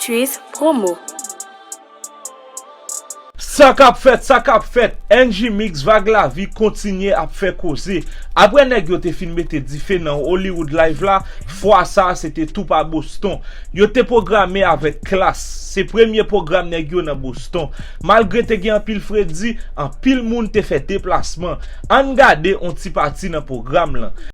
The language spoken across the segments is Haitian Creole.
Tchuiss promo. Sa kap fèt, sa kap fèt, NJ Mix Vag Lavi kontinye ap fè koze. Aprè nèg yo te fin mete dife nan Hollywood Live la, fwa sa a se te tou pa Boston. Yo te pwograme avèk Klass. Se premye pwogram nèg yo nan Boston. Malgre te gen anpil fredi, anpil moun te fè deplasman. Ann gade on ti pati nan pwogram lan.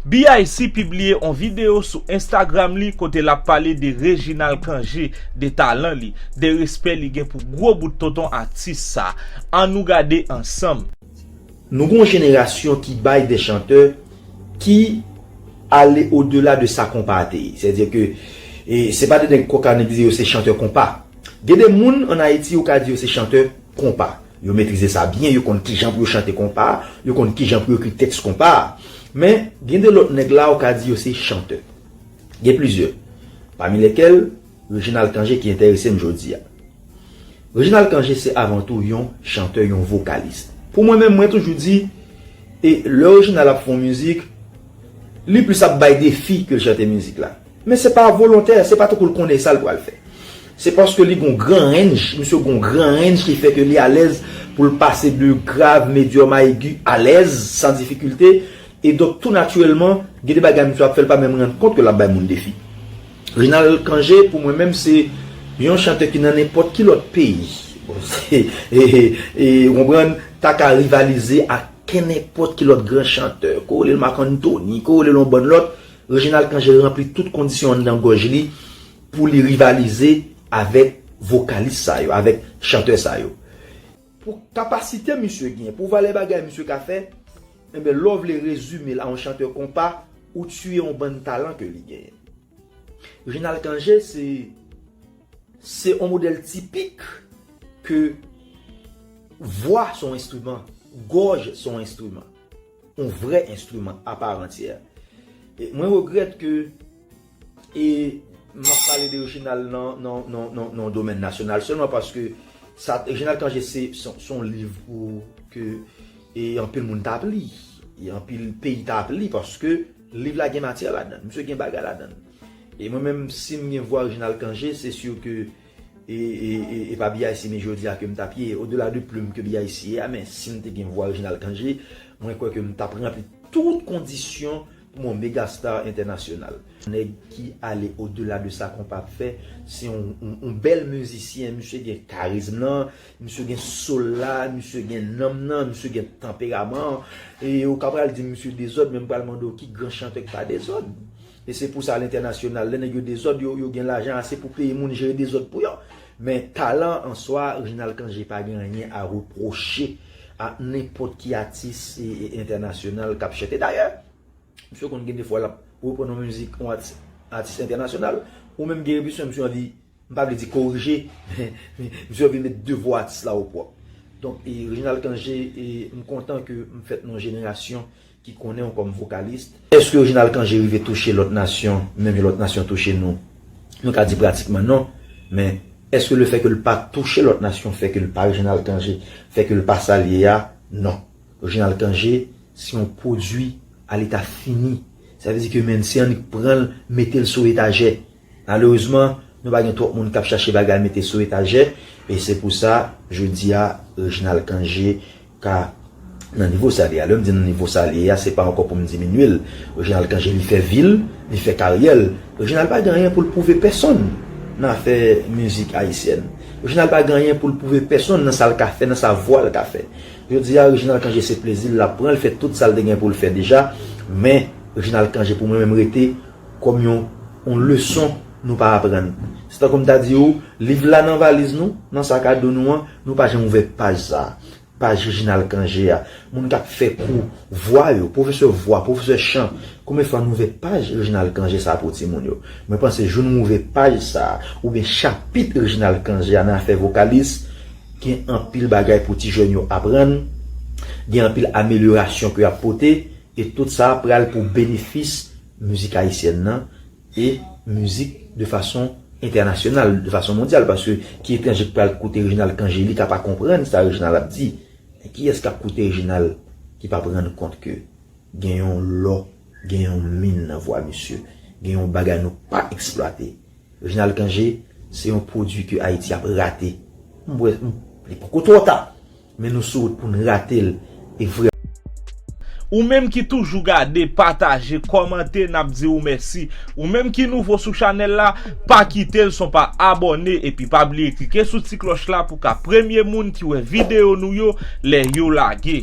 BIC pibliye on videyo sou Instagram li kote lap pale de Reginald Cangé, de talan li, de respè li gen pou gwo bout tonton atis sa. An nou gade ansanm. Nou gen yon jenerasyon ki bay de chantè ki ale o dela de sa konpa a te ye. Sè di ke se pa de nèg kòkannen ki di yo se chantè konpa. Gen de moun an Ayiti ou ka di yo se chantè konpa. Yo metrize sa byen, yo konn kijan pou yo chante konpa a, yo konn kijan pou yo ekri tèks konpa a. Men, gen de lòt nèg la ou ka di yo se chantè. Gen plizyè. Pami lèkèl, Reginald Cangé ki enterese m jodi a. Reginald Cangé se avan tou yon chantè, yon vokalis. Pou mwen menm, mwen toujou di, e lè Reginald ap fè yon mizik, li plis ap bay defi ke l chante mizik la. Men se pa volontè, se pa tankou l konnen sa l pral fè. Se paske li gen yon gran rennj, misye gen yon gran rennj ki fè ke li alèz pou l pase de grav, medyòm a egi alèz, san difikilte. E donk tou natirèlman, gen de bagay misye ap fè l pa menm rann kont ke l ap bay moun defi. Reginald Cangé pou mwen menm se yon chantè ki nan nenpòt ki lòt peyi, bon se, e ou konprann, ta ka rivalize ak kenenpòt ki lòt gran chantè. Ko w rele l Marc Anthony, ko w rele l yon bann lòt, Reginald Cangé ranpli tout kondisyon anndan gòj li pou li rivalize avèk vokalis sa yo, avèk chantè sa yo. Pou kapasite misye gen, pou valè bagay misye ka fè, enben lè w vle rezime l a yon chantè konpa, ou tiye yon bann talan ke li genyen. Reginald Cangé se se yon modèl tipik ke vwa se yon enstriman, gòj se yon enstriman. On vrè enstriman aparantyè. Mwen regrèt ke e m ap pale de Reginald nan yon domèn nasyonal sèlman paske sa Reginald Cangé se son liv pou ke e anpil moun ta ap li, e anpil peyi ta ap li paske liv la gen matyè ladan l, misye gen bagay ladan l. E mwen menm si m gen vwa Reginald Cangé se sur ke E pa BIC ni jodi a ke m t ap ye, odela de plume ke BIC ye a, men si m te gen vwa Reginald Cangé, mwen kwè ke m t ap ranpli tout kondisyon pou m yon mega star entènasyonal. Nèg ki ale odela de sa konpa ap fè, se yon bèl mizisyen, misye gen karizm lan, misye gen soul la, misye gen nanm nan, misye gen tanperaman an. E ou ka pral di m misye dezòd, men m pral mande w ki gran chantè k pa dezòd? E se pou sa a lentènasyonal, lè nèg yo dezòd, yo gen lajan ase pou peye moun jere dezòd pou yo. Men talan an swa, Reginald Cangé pa gen anyen a repwoche a nenpòt ki atis entènasyonal k ap chante. Dayè, misye konn gen de fwa l ap reprann yon mizik yon atis entènasyonal. Ou menm Guy Rébusier, misye anvi M pa vle di korije, men misye vle met devwa atis la opwòp. Donk, Reginald Cangé, m kontan ke m fèt nan yon jenerasyon ki konnen w kòm vokalist. Èske Reginald Cangé rive touche lòt nasyon menm jan lòt nasyon touche nou? Nou ka di pratikman non, men èske le fè ke l pa touche lòt nasyon fè ke l pa Reginald Cangé, fè ke l pa sa l ye a? Non. Reginald Cangé se yon pwodui aleta fini. Sa vle di ke menn si annik pran l mete l sou etajè, Malerezman, nou pa gen twòp moun k ap chache bagay mete sou etajè, e se pou sa, jodi a, Reginald Cangé ka nan nivo sa li a. Lè m di nan nivo sa li ye a, se pa ankò pou m diminye l. Reginald Cangé, li fè vi l, li fè karyè l. Reginald pa gen anyen pou l pwouve pèsonn nan afè mizik ayisyèn. Reginald pa gen anyen pou l pwouve pèsonn nan sa l ka fè, nan sa vwa l ka fè. Jodi a, Reginald Cangé se plezi l l ap pran, l fè tout sa l te gen pou l fè deja, men Reginald Cangé pou mwen menm rete. Kòm yon yon leson nou pa aprann. Se tankou m ta di ou, liv la nan valiz nou, nan sak a do nou an, nou pa janm ouvè paj sa a. Paj Reginald Cangé a. Moun k ap fè kou vwa yo, pwofesè vwa, pwofesè chan, konbyen fwa nou ouvè paj Reginald Cangé sa a pou timoun yo? Mwen panse jou nou ouvè paj sa a, oubyen chapit Reginald Cangé a nan afè vokalis, gen anpil bagay pou ti jèn yo aprann, gen anpil amelyorasyon ke y ap pote. E tout sa pral pou benefis mizik ayisyèn nan e mizik de fason entènasyonal, de fason mondyal paske ki etranje ki pral koute Reginald Cangé li ka pa konprann sa Reginald ap di men kiyès kap koute Reginald ki pap rann kont ke gen yon lò, gen yon min nan vwa misye, gen yon bagay nou pa eksplwate. Reginald Cangé se yon pwodui ke Ayiti ap rate. M wè li poko twò ta. Men nou sou wout pou n rate l e vrè. Ou menm ki toujou gade, pataje, kòmante n ap di ou mèsi. Ou menm ki nouvo sou chanèl la, pa kite l san w pa abòne epi pa bliye klike sou ti klòch la pou w ka premye moun ki wè videyo nou yo lè yo lage.